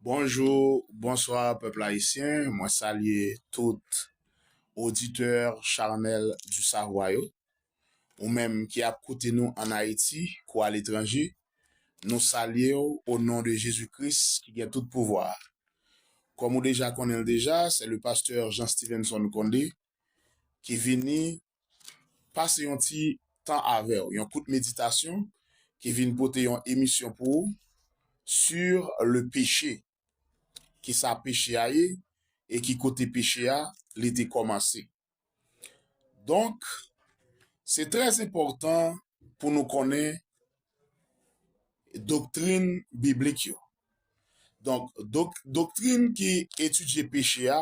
Bonjou, bonswa pèpl ayisyen, mwen salye tout oditè Charnel du Savoir yo. Ou menm ki ap koute nou an Ayiti kou aletranje, nou salye w o non de Jezi Kris ki gen tout pouvwa. Kòm ou deja konnen l deja, se le pastè Jean Stevenson Condé ki vini pase yon ti tan avèw yon kout meditasyon ki vin pote yon emisyon pou ou sur le peche kisa peche a ye e ki kote peche a li te kòmanse donk se trè enpòtan pou nou konnen doktrin biblik yo donk doktrin ki etidye peche a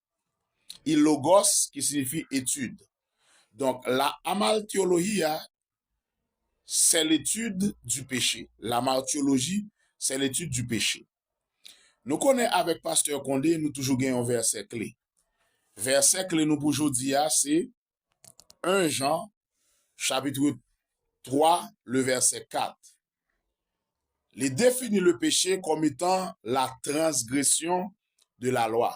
e logos ki sinifi etid. Donk, la amartiologia c'est l'étude du péché, lamartioloji sè letid di peche. Nou konnen avèk pastè Condé nou toujou gen yon vèsè kle. Vèsè kle nou pou jodi a se 1 Jan chapitre 3 le vèsè 4, li defini le peche kòm etan la transgresyon de la lwa.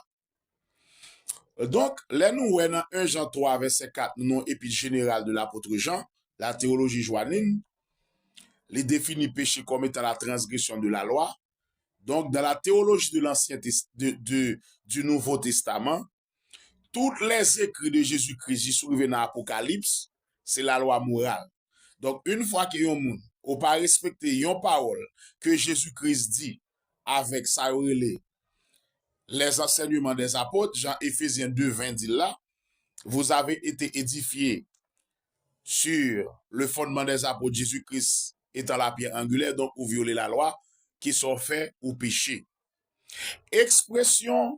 Donk, lè nou wè nan 1 Jan 3 vèsè 4 nou nan epit jeneral de lapotre Jan, la teyoloji jwanin, li defini peche kòm etan la transgresyon de la lwa. Donk, dan la teyoloji de lansyen, de, de, du Nouvo Testaman, Tout les écrits de Jésus Christ jis rive nan Apokalips se la loi morale. Donk une fwa ke yon moun ou pa respekte yon pawòl ke Jésus Christ di avèk sa yo rele les enseignements des apôtres jan Ephésiens 2, 20 di l la, vous avez été édifiés sur le fondement des apôtres Jésus Christ étant la pierre angulaire donk ou vyole la lwa, kisa w fè ou peche. Ekspresyon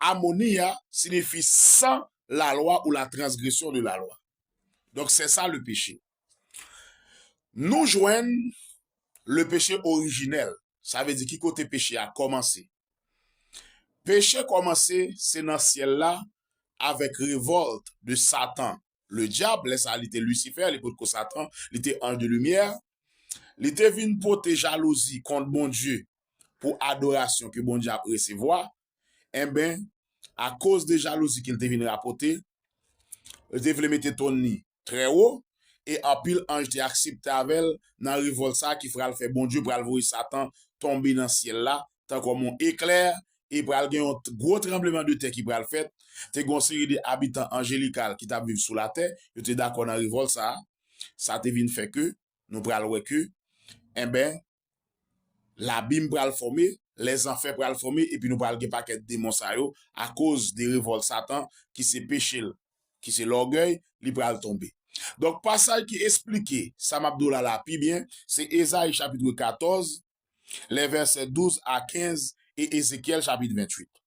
Amonia sinifi san lalwa ou la transgresyon de lalwa. Donk sè sa le peche. Nou jwenn le peche orijinèl. Sa vle di ki kote peche a kòmanse. Peche kòmanse se nan syèl la avèk revòlt de Satan le dyab, lè sa li te Lisifè, li potko Satan, li te anj de limyè. Li te vin pote jalouzi kont Bondye pou adorasyon ke Bondye ap resevwa Enben, akoz de jalouzi ke l te vin rapòte, l te vle mete ton li trè wo, e anpil anj te aksepte avè l nan revòlt sa a ki pral fè Bondye pral voye Satan tonbe nan syèl la tankòm yon eklè, e pral gen yon gwo tranbleman de tè ki pral fèt. Te gen yon seri de abitan anjelikal ki t ap viv sou latè, yo te dakò nan revòlt sa a. Sa te vin fè ke nou pral wè ke, enben, Labim pral fòme, lèzanfè pral fòme epi nou pral gen pakèt demon sa yo akoz de revòl satan ki se peche l ki se lògèy li pral tonbe. Donk pasaj ki esplike sa m ap di w la la pi byen se Ezayi chapitre 14 lè vèsè 12 a 15 e Ezekyèl chapit 28.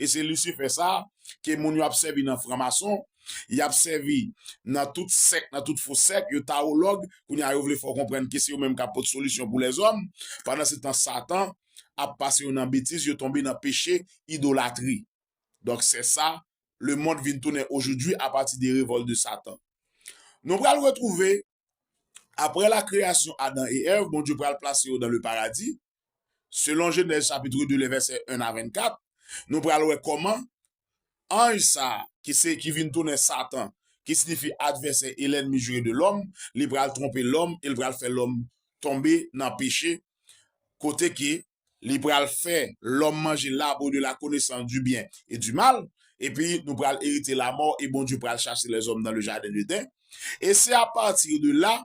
e se lisifè sa a ke moun yo ap sèvi nan franmason, y ap sèvi nan tout sèk, nan tout fo sèk, yo tawològ, kounye a yo vle fè w konprann ke se yo menm k ap pot solisyon pou lèzòm, pandansetan satan ap pase yo nan betiz, yo tonbe nan peche idolatri. Donk sè sa lemond vin tounen ojoudwi apati de revòl de satan. Nou pral retwouve Aprè la kreyasyon Adan e Èv, Bondye pral plase yo dan le paradi. Selon Jenèz chapitre 2 lè vèsè 1 a 24, nou pral wè kòman anj sa a, ki se, ki vin tounen Satan, ki sinifi advèsè e lènmi jire de lòm, li pral twonpe lòm e li pral fè lòm tonbe nan peche, kote ke li pral fè lòm manje l'arbre de la connaissance du bien et du mal, epi nou pral erite lamò e Bondye pral chase lèzòm nan le jaden d'Eden, e se a pati de la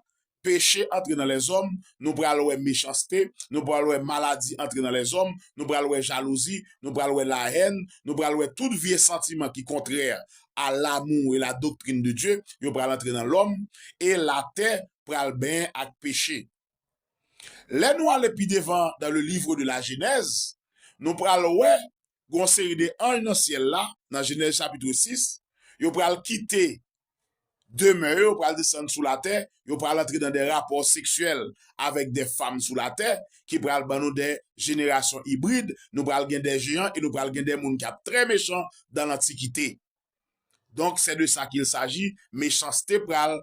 peche antre nan lèzòm, nou pral wè mechanste, nou pral wè maladi antre nan lèzòm, nou pral wè jalouzi, nou pral wè la haine, nou pral wè tout vye santiman ki kontrè a l'amour et la doctrine de Dieu, yo pral antre nan lòm, e latè pral benyen ak peche. Lè nou ale pi devan dan le livre de la jenèz, nou pral wè gen yon seri de anj nan syèl la, nan jenèz chapitre 6, yo pral kite demè yo, yo pral desann sou latè, yo pral antre nan de rapò seksyèl avèk de fam sou latè, ki pral ban nou de jenerasyon ibrid, nou pral gen de jeyan e nou pral gen de moun ki ap trè mechan dan lantikite. Donk se de sa kil saji, mechanste pral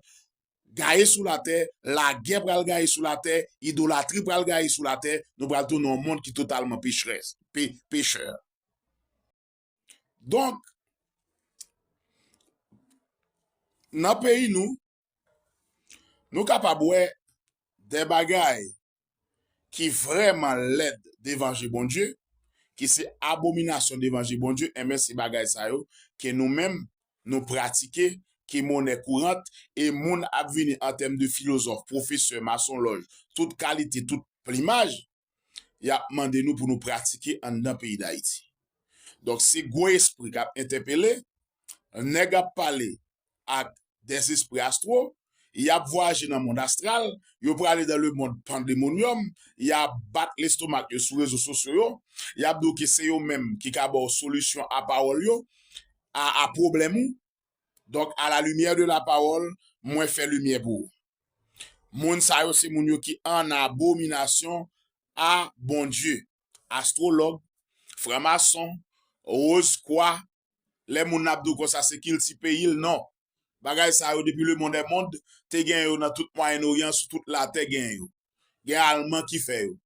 Gaye sou latè, lagè pral gaye sou latè, idolatri pral gaye sou latè, nou pral tounen yon mond ki totalman pecherès, pe, pecheur. Donk, nan peyi nou, nou kapab wè de bagay ki vrèman lèd devan je Bondye, ki se abominasyon devan je Bondye, enben se bagay sa yo ke nou menm nou pratike, ki monè kourant, e moun ap vini an tèm de filozòf, pwofesè, masonlòj, tout kalite, tout plimaj, y ap mande nou pou nou pratike anndan peyi Dayiti. Donk se gwo espri k ap entèpele, nèg ap pale, ak dè zespri astwo, y ap vwayaje nan mond astral, yo prale dan le mond pandemonium, y ap bat lestomak yo sou rezo sosyo yo, y ap di w ke se yo menm ki ka ba w solisyon a pawòl yo, a a pwoblèm ou. Donk, a la limyè de la pawòl, mwen fè limyè pou ou. Moun sa yo se moun yo ki an abominasyon a Bondye, astwològ, franmason, roz kwa, lè moun nan ap di w konsa se kilti peyi l non. Bagay sa yo depi lemond è mond te gen yo nan tout mwayen oryan sou tout latè gen yo. Gen alman ki fè yo.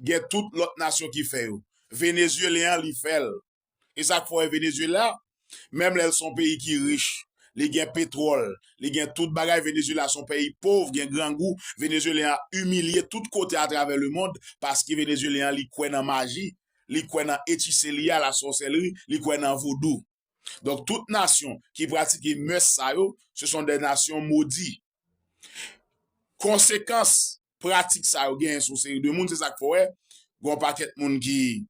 Gen tout lòt nasyon ki fè yo. Venezyelyen an li fè l. E sa k fè w wè Venezyela menm lè l son peyi ki rich, li gen petwòl, li gen tout bagay Venezyela son peyi pov gen grangou Venezyelyen an imilye tout kote atravè lemond paske Venezyelyen an li kwè nan maji li kwè nan echisseliya, la sorcellerie, li kwè nan vodou. Donk tout nasyon ki pratike mœurs sa yo, se son des nations maudites. Konsekans pratik sa yo genyen sou seri de moun, se sak fè w wè gen yon pakèt moun ki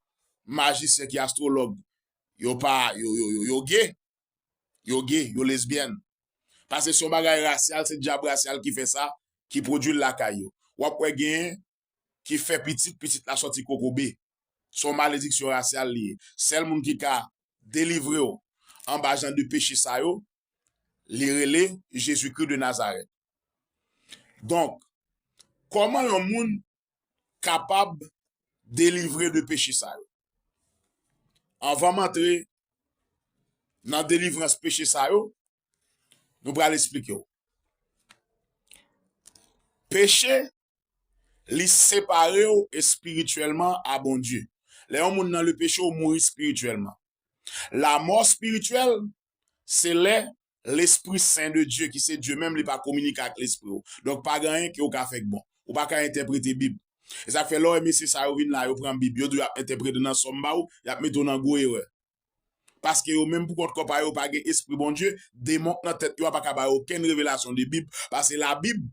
majisyen, ki astrològ, yo pa, yo ge, yo ge, yo lesbyèn. Pase se yon bagay rasyal, se dyab rasyal ki fè sa, ki pwodwi l lakay yo. Wap wè genyen ki fè pitit, pitit la sòti kokobe. Se yon malediksyon rasyal li ye. Sèl moun ki ka delivre w anba jan de peche sa yo, li rele Jezikri de Nazarèt. Donk, kòman yon moun kapab delivre de peche sa yo? Anvan m antre nan delivrans peche sa yo, nou pral esplike w. Peche Li separe w espirityèlman a Bondye. Lè yon moun nan lepeche, ou mouri espirityèlman. Lamò espirityèl, se lè Lespri Sen de Dye, ki se Dye menm, li pa kominike ak lespri w. Donk, pa gen anyen ke ou ka fè k bon. Ou pa ka entèprete Bib. E sa k fè lè w wè mesye sa yo vin la, yo pran Bib, yo di w y ap entèprete nan sa w m ba ou, y ap mete w nan gwo erè. Paske yo menm pou kont kò pa yo pa gen espri Bondye, demon k nan tèt yo a pa ka ba yo okenn revelasyon de Bib, pase Labib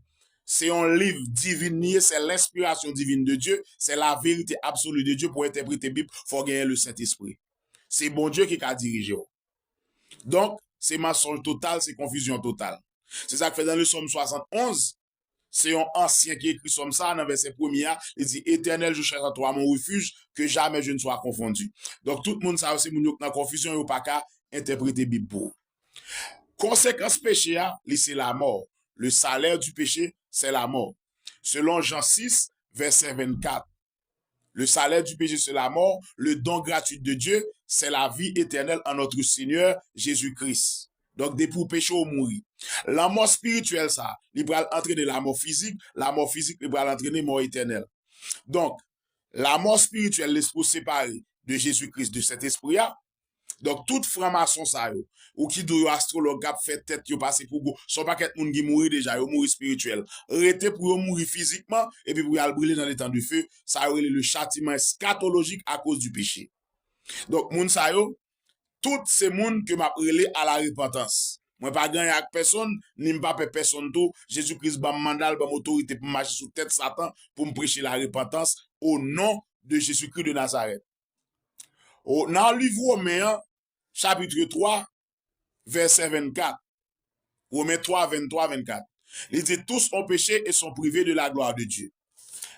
se yon liv divin li ye, se lenspirasyon divin de Dye, se laverite absoli de Dye, pou entèprete Bib fò w genyen Lesentespri. Se Bondye ki ka dirije w. Donk, se mansonj total, se konfizyon total. Se sa k fè nan leson m 71, Se yon ansyen ki ekri sòm sa a nan vèsè premye a, li di, Etènèl, je chèch an twa mon refij, ke jamè je n swa konfondi. Donk, tout moun sa yo se moun yo k nan konfizyon, yo pa ka entèprete Bib pou ou. Konsekans peche a, li se lamò. Le salaire du péché, c'est la mort. Selon Jan 6, vèsè 24. Le salè du peche se la mò, le don gratuit de Dye sè la vi etènèl an nòtre Senyè Jezi Kris. Donk depi w peche w mouri. Lanmò spirityèl sa, li pral antrene lamò fizik, lamò fizik li pral antrene mò etènèl. Donk, lamò spirityèl lespri w separe de Jezi Kris, de Sentespri a, Donk tout fran mason sa yo, ou ki di yo astrolog kap fè tèt yo pase pou gwo, son pakèt moun ki mouri deja, yo mouri spirityèl. Rete pou yo mouri fizikman, epi pou yal brile nan letan de fe, sa yo rele le chatiman eskatolojik a koz di peche. Donk moun sa yo, tout se moun ke map rele a la repantans. Mwen pa ganyan ak pèsonn, ni mpa pè pèsonn tou, Jezi Kris banm mandal, banm otorite poum mache sou tèt satan, poum preche la repantans, o non de Jezi Kris de Nazarèt. Oh, nan liv Women an, chapitre 3, vèsè 24. Women 3, 23, 24. Li di, tous on peche e son prive de la glwa de Dye.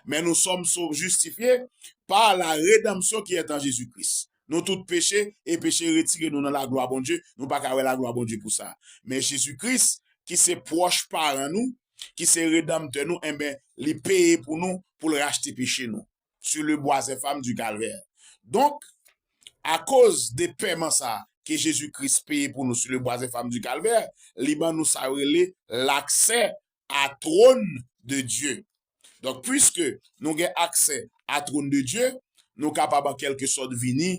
Men nou som so justifye pa la redanmsyon ki etan Jezi Kris. Nou tout peche e peche retire nou nan la glwa Bondye, nou pa ka wè la glwa Bondye pou sa. Men Jezi Kris, ki se pwòch paran nou, ki se redanmtè nou, enben, li peye pou nou, pou l rachte peche nou. sur le bois infâme du calvaire. Donk, akoz de pèman sa a ke Jezi Kris peye pou nou sur le bois infâme du calvaire, li ban nou sa yo rele l'aksè a trône de Dieu. Donk, puiske nou gen aksè a trône de Dieu, nou kapab an kèlke sòt vini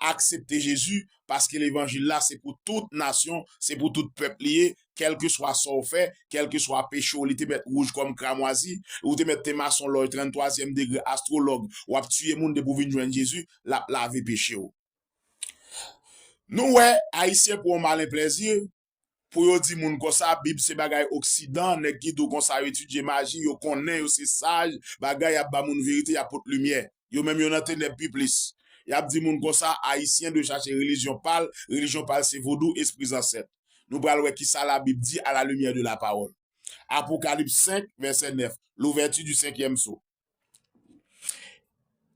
Aksepte Jezi paske levanjil la se pou tout nasyon, se pou tout pèp li ye, kèlkeswa sa w fè, kèlkeswa peche w li te mèt wouj kòm kramwazi, ou te mèt te mason lòy 33 zièm degre astrològ, w ap tiye moun depi w vin jwenn Jezi, l ap lave peche w. Nou wè, Ayisyen pou yon malen plèzi, Pou yo di moun konsa bib se bagay oksidan nèg ki dou konsa yo etidye maji yo konnen yo se saj bagay yap ba moun verite yap pot limyè yo menm yo nan tenèb pi plis yap di moun konsa ayisyen dwe chache relijyon pal relijyon pal se vodou espri zansèt nou pral wè kisa la bib di a la limyè de la pawòl Apocalypse 5 verset 9 l'ouverture du cinquième sceau.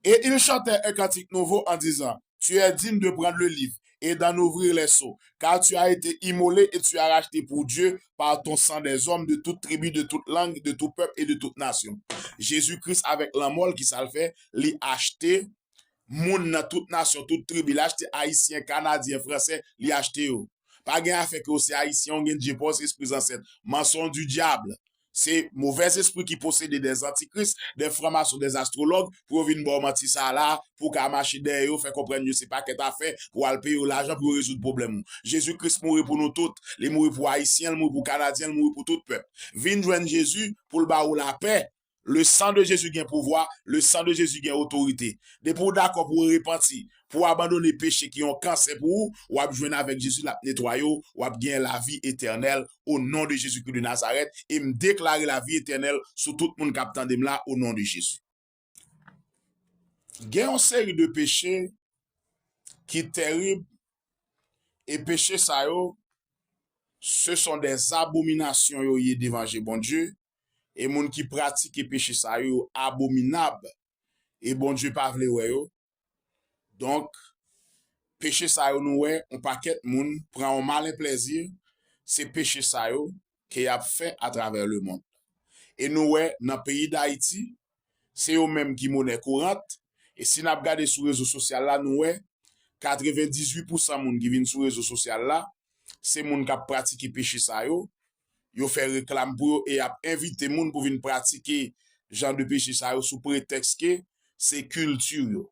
Et ils chantèrent un cantique nouveau, en disant, Tu es digne de prendre le livre, et d'en ouvrir les sceaux, car tu as été immolé, et tu as racheté pour Dieu par ton sang des hommes de toute tribu, de toute langue, de tout peuple, et de toute nation. Jésus-Christ avèk lanmò l, kisa l fè? Li achte moun nan tout nasyon, tout tribi. Li achte Ayisyen, Kanadyen, Fransè, li achte yo. Pa gen afè ke w se Ayisyen, w gen Dye pa w, se espri zansèt. Mansonn di dyabl. Se movèz espri ki posede dè zantikris, dè franmason, dè astrològ pou yo vin ba w manti sa a la a pou w ka mache dèyè yo, fè konprann yo se pakèt afè pou w al peye yo lajan pou yo rezoud pwoblèm ou. Jezi Kris mouri pou nou tout. Li mouri pou Ayisyen, l mouri pou Kanadyen, l mouri pou tout pèp. Vin jwenn Jezi pou l ba ou lapè. Le san de Jezi gen pouvwa, le san de Jezi gen otorite. Depi w dakò pou w repanti, pou w abandone peche ki yon kansè pou ou, w ap jwenn avèk Jezi l ap netwaye w, w ap gen lavi etènèl, o non de Jezikri de Nazarèt e m deklare lavi etènèl sou tout moun k ap tande m la o non de Jezi. Gen yon seri de peche ki terib e peche sa yo se son de zabominasyon yo ye devan je Bondye e moun ki pratike peche sa yo yo abominab e Bondye pa vle wè yo. Donk, peche sa yo nou wè yon pakèt moun pran yon malen plèzi, se peche sa yo ke y ap fè atravè lemonn. E nou wè nan peyi Dayiti, se yo menm ki monè kourant, e si n ap gade sou rezo sosyal la nou wè katrevendizui pousan moun ki vin sou rezo sosyal la, se moun k ap pratike peche sa yo, yo fè reklam pou yo e y ap envite moun pou vin pratike jan de peche sa yo sou pretèks ke se kilti yo.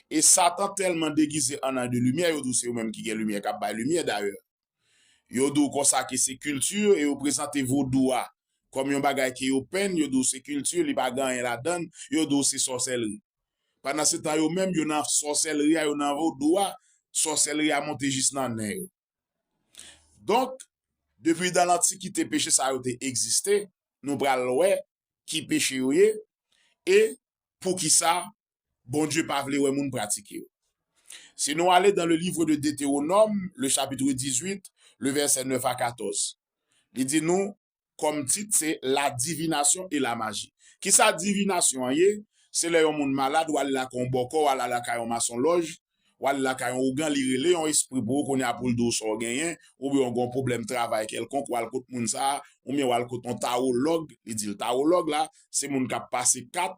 E Satan tèlman degize an Anh de Limyè, yo di w se yo menm ki gen limyè, k ap bay limyè dayè. Yo di w konsa ke se kilti yo e yo prezante vodou a kòm yon bagay ke yo penn, yo di w se kilti yo, li pa gen anyen ladan l, yo di w se sòsèlri. Pandansetan yo menm yo nan sòsèlri a, yo nan vodou a, sòsèlri a monte jis nan nen yo. Donk, depi dan lantikite peche sa yo te egziste, nou pral wè ki peche yo ye e poukisa Bondye pa vle wè moun pratike yo. Si nou ale dan le livre de Deteronòm, le chapitre 18, le vèsè 9 a 14, li di nou, kòm tit se la divination et la magie. Kisa divinasyon an ye? Se lè yon moun malad wal lakay yon bòkò, wal ala kay yon masonlòj, wal lakay yon ougan li rele yon espri pou ou kounye a poul diw sa w genyen, oubyen ou gen yon pwoblèm travay kèlkonk wal kot moun sa, oubyen wal kot yon tawològ, li dil tawològ la se moun kap pase kat,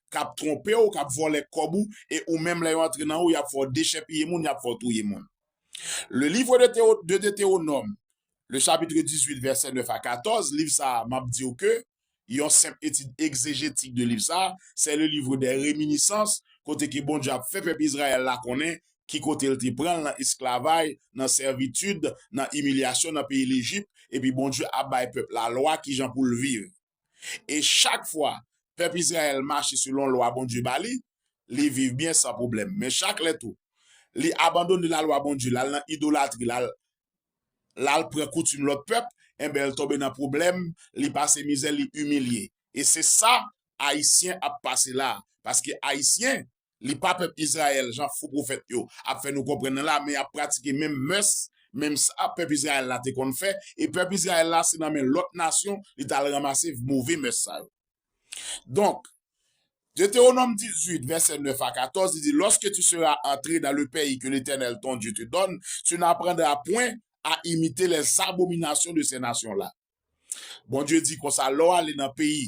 kap twonpe w, kap vòlè kòb ou, e ou menm lè yo antre nan ou, y ap fè w dechèpiye moun, y ap fè w touye moun. Le livre de Deutéronome, le chapitre 18 vèsè 9 a 14, liv sa a, m ap di w ke yon senp etid egzejetik de liv sa a, sè le livre des reminiscences, kote ke Bondye ap fè pèp Izrayèl la konnen ki kote l te pran l nan esklavay, nan sèvitid, nan imilyasyon nan peyi Lejip, epi Bondye ap bay pèp la lwa kijan pou l viv. E chak fwa pèp Izrayèl mache selon lwa Bondye ba li, li viv byen san pwoblèm. Men chak lè tou, li abandone lalwa Bondye, l al nan idolatri, l al pran koutim lòt pèp, enben l tonbe nan pwoblèm, li pase mizè, li imilye. E se sa Ayisyen ap pase la a. Paske Ayisyen Li pa pèp Izrayèl jan fo pwofèt yo ap fè nou konprann nan la men y ap pratike menm mès, menm sa pèp Izrayèl la te konn fè e pèp Izrayèl la se nan men lòt nasyon li t al ranmase move mès sa yo. Donk, Detewonòm 18, vèsè 9 a 14, li di, Lòske tu sera antre dan le peyi ke Letènèl ton Dye te dòn, tu n'aprandra pwen a imite lèzabominasyon de sè nasyon la. Bondye di konsa, lè w ale nan peyi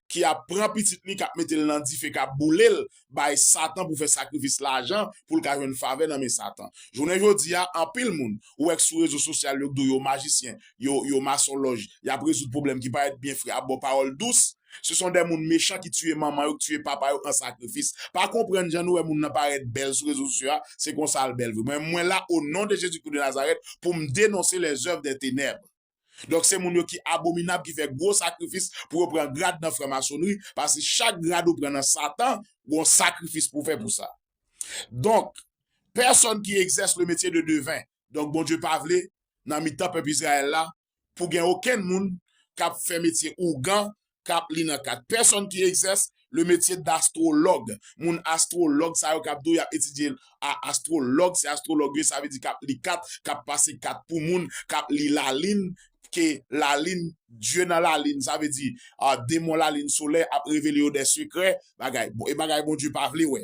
ki ap pran pitit li k ap mete l nan dife k ap boule l bay Satan pou fè sakrifis lajan pou l ka jwenn favè nan men Satan. Jounen jodi a, anpil moun ou wè k sou rezo sosyal yo k di w yo majisyen, yo yo masonlòj, y ap rezoud pwoblèm ki parèt byen fre ap ba w pawòl dous, se son de moun mechan ki tiye manman yo, k tiye papa yo an sakrifis. Pa konprann jan nou wè moun nan parèt bèl sou rezo sosyo a, se konsa l bèl vre. Mwen mwen la o non de Jezikri de Nazarèt pou m denonse lèzèv dè tenèb. Donk se moun yo ki abominab ki fè gwo sakrifis pou yo pran grad nan franmasonnri, paske chak grad ou pran nan satan gon sakrifis pou fè pou sa. Donk, pèsonn ki egzès le metye de deven, donk Bondye pa vle nan mitan pèp Izrayèl la pou gen okenn moun kap fè metye ougan kap li nan kat pèsòn ki egzès le metye dastwològ. Moun astwològ sa yo kap di w yap etidye a astwològ se astwològ yo sa vle di kap li kat, kap pase kat pou moun, kap li lalin pke lalin dye nan lalin sa vle di demon lalin solèy ap revele yo dè sekrè bagay e bagay Bondye pa vle wè.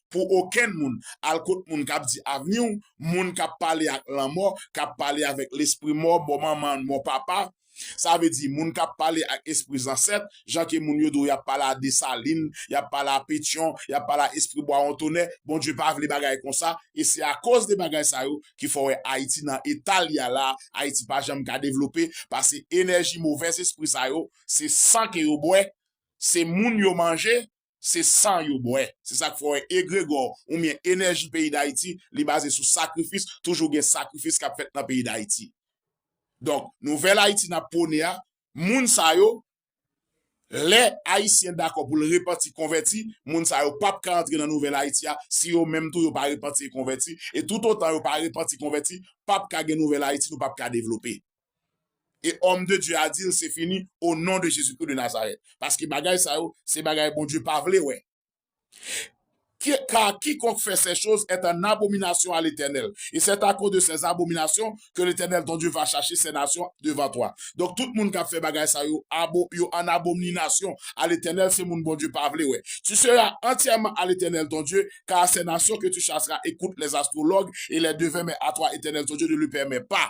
pou okenn moun al kot moun kap di avni w, moun kap pale ak lanmò, kap pale avèk lespri mò, mò manman, mò papa, sa vle di moun kap pale ak espri zansèt, jan ke moun yo di w yap pale a Desalin, yap pale a Petyon, yap pale a espri bwa wontonè, Bondye pa vle bagay konsa, e se akoz de bagay sa yo ki fè w wè Ayiti nan eta li a la a, Ayiti pa janm ka devlope, pase enèji movèzespri sa yo, se san ke yo bwè, se moun yo manje, Se san yo bwè. Se sa k fè w wè egregò oubyen enèji peyi Dayiti, li baze sou sakrifis, toujou gen sakrifis k ap fèt nan peyi Dayiti. Donk, nouvèl Ayiti n ap pwone a, moun sa yo, lè Ayisyen dakò pou l repanti, konvèti, moun sa yo p ap ka antre nan nouvèl Ayiti a si yo menm tou yo pa repanti e konvèti. E toutotan yo pa repanti, konvèti, p ap ka gen nouvèl Ayiti, nou p ap ka devlope. E òm de Dye a di l se fini o non de Jezikri de Nazarèt. Paske bagay sa yo se bagay Bondye pa vle wè. Kar kikonk fè sè choz èt an abominasyon a Letènèl, e sèt akoz de sè zabominasyon ke Letènèl ton Dye va chache sè nasyon devan twa. Donk tout moun kap fè bagay sa yo, yo an abomninasyon a Letènèl, se moun Bondye pa vle wè. Tu sera antyèman a Letènèl ton Dye, kar a sè nasyon ke tu chasera ekout lè zastwològ e lè devèn men a twa Etènèl ton Dye ne le pèmè pa.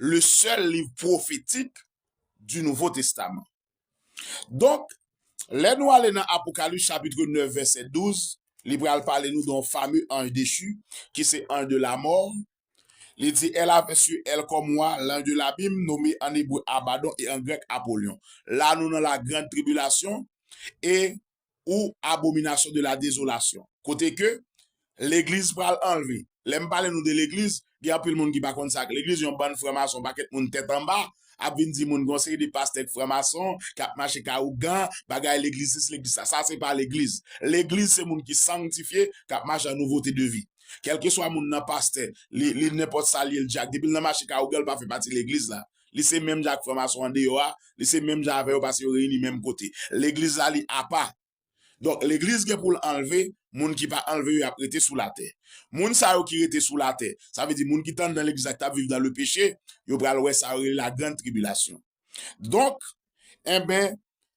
le sèl liv pwofetik di Nouvo Testaman. Donk, lè nou ale nan Apokalips chapitre 9 vèsè 12, li pral pale nou don fame anj dechu, ki se anj de lamò. Li di, El ave su el kòm wa lanj de labim, nome an ebre Abadon e an grèk Apolion. La nou nan lagrand tribilasyon, e ou abomination de la désolation kote ke legliz pral anlve lè m pale nou de legliz gen anpil moun ki pa konn sa k legliz yon bann franmason pakèt moun tèt anba ap vin di moun gen yon seri de pastè k franmason k ap mache ka ougan bagay legliz sis legliz sa sa se pa legliz legliz se moun ki sangtifye k ap mache an nouvote de vi kèlkeswa moun nan pastè li li nenpòt sa l ye l dyak depi l nan mache ka ougan l pa fè pati legliz la. Li se menm jan ak franmason andeyò a, li se menm jan avè yo paske yo reyini menm kote. Legliz la li apa. Donk legliz gen pou l anlve, moun ki pa anlve yo y ap rete sou latè. Moun sa yo ki rete sou latè, sa vle di moun ki te anndan legliz la ki t ap viv nan lepeche, yo pral wè sa yo rele lagranntribilasyon. Donk, enben,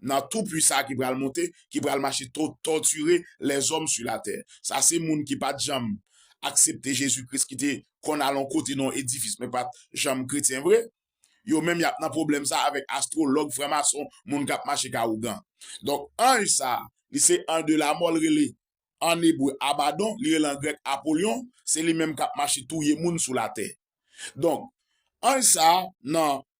Nan tou pui sa ki pral monte, ki pral mache to tòtire lèzòm su latè. Sa se moun ki pa t janm aksepte Jezi Kris ki te konn al on kote nan on edifis men pa t janm kretyen vre. Yo menm y ap nan pwoblèm sa avèk astwològ, franmason, moun k ap mache ka ougan. Donk anj sa, li se anj de lamò l rele ann ebre Abadon, li rele an grèk Apolion, se li menm k ap mache touye moun sou latè. Donk anj sa nan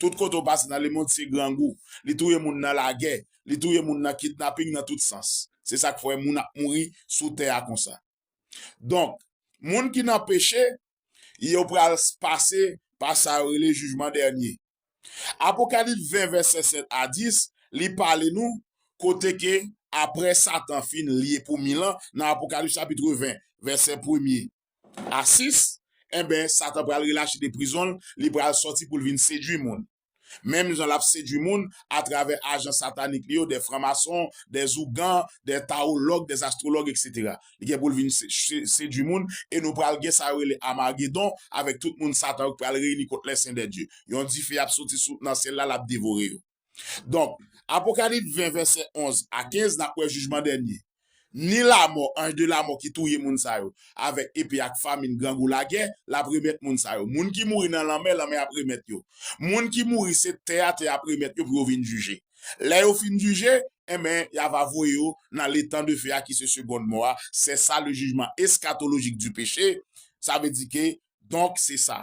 Tout kote ou pase nan lemond se grangou. Li touye moun nan lagè. Li touye moun nan kidnaping nan tout sans. Se sa k fè moun ap mouri sou tè a konsa. Donk, moun ki nan peche, yo pral pase pa sa yo rele jijman dènye. Apokalips 20 vèsè 7 a 10, li pale nou kote ke apre Satan fin lye pou mil an nan Apokalips chapitre 20 vèsè premye A 6, Enben, Satan pral relache de prizon l, li pral sòti pou l vin sedui moun. Menm jan l ap sedui moun atravè ajan satanik li yo, de franmason, de zougan, de tawològ, de astrològ, eksetera. Li gen pou l vin sedui moun, e nou pral gen sa yo rele Amagedon, avèk tout moun Satan yo ki pral reyini kont Lèsendèdye. Yon dife ap sòti sou nan syèl la, l ap devore yo. Donk, Apokalip 20 vèsè 11 a 15 nap wè jijman dènye. Ni lamò, anj de lamò ki touye moun sa yo avèk epe ak famin, grangou, lagè, lap remèt moun sa yo. Moun ki mouri nan lanmè, lanmè ap remèt yo. Moun ki mouri se tè a, tè a ap remèt yo pou yo vin jije. Lè yo fin jije, enben, ya va voye yo nan letan de fe a ki se segond mò a, sè sa le jijman eskatolojik di peche, sa vle di ke, donk, se sa.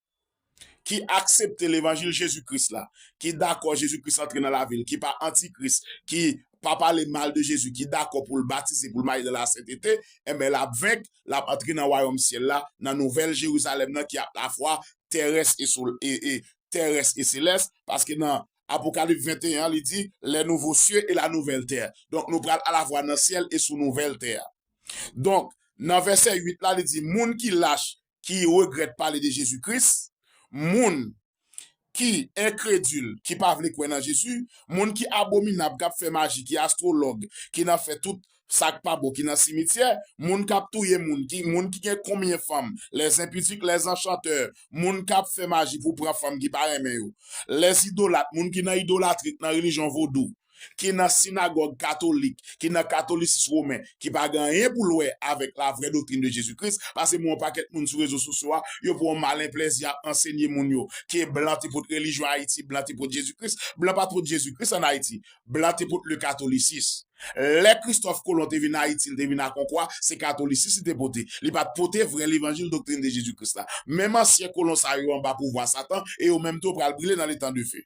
ki aksepte levanjil Jezi Kris la, ki dakò Jezi Kris antre nan lavi l, ki pa antikris, ki pa pale mal de Jezi, ki dakò pou l batize, pou l maye nan lasentete, enben l ap venk, l ap antre nan wayòm syèl la, nan nouvèl Jerizalèm nan ki alafwa terès e selès, paske nan Apokalip 21 an li di, lè nouvo sye e la nouvèl tè. Donk nou pral alafwa nan syèl e sou nouvèl tè a. Donk, nan vèsè 8 la li di, moun ki lach, ki regrèt pale de Jezi Kris, moun ki enkredil ki pa vle kwè nan Jezi, moun ki abominab k ap fè maji, ki astwològ, ki nan fè tout sa k pa bon, ki nan simityè, moun k ap touye moun, moun ki gen konbyen fanm, lèzenpidik, lèzenchantè, moun k ap fè maji pou pran fanm ki pa renmen yo, lèzidolat, moun ki nan idolatri, ki nan relijyon vodou, ki nan sinagòg katolik, ki nan katolisis women, ki pa gen anyen pou l wè avèk la vrè doktrin de Jezi Kris, pase mwen yon pakèt moun sou rezo sosyo a, yo pran yon malen plèzi ap ansenye moun yo ke blan te pot relijyon Ayiti, blan te pot Jezi Kris. Blan pa t pot Jezi Kris ann Ayiti. Blan te pot le katolisis. Lè Kristòf Kolon te vin Ayiti, li te vin ak yon kwa, se katolisis li te pote. Li pa t pote vrè levanjil doktrin de Jezi Kris la. Menm ansyen kolon sa yo anba pouvwa satan e yo menm tou pral brile nan letan de fe.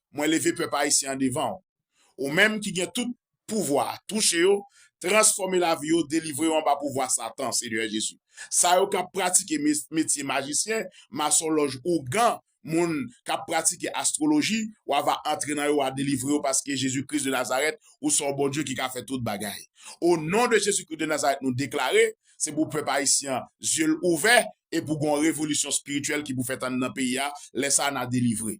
mwen leve pèp ayisyen an devan w. Ou menm ki gen tout pouvwa, touche yo, transfòme lavi yo, delivre yo anba pouvwa satan, Senyè Jezi. Sa yo k ap pratike metye majisyen, masonlòj, ougan, moun k ap pratike astwoloji, w a va antre nan yo, w a delivre yo paske Jezi Kris de Nazarèt, ou se yon Bondye ki ka fè tout bagay. O non de Jezi Kris de Nazarèt nou deklare, se pou pèp ayisyen an zye l ouvè e pou gen yon revolisyon espirityèl ki pou fèt anndan peyi a, lè sa a n a delivre.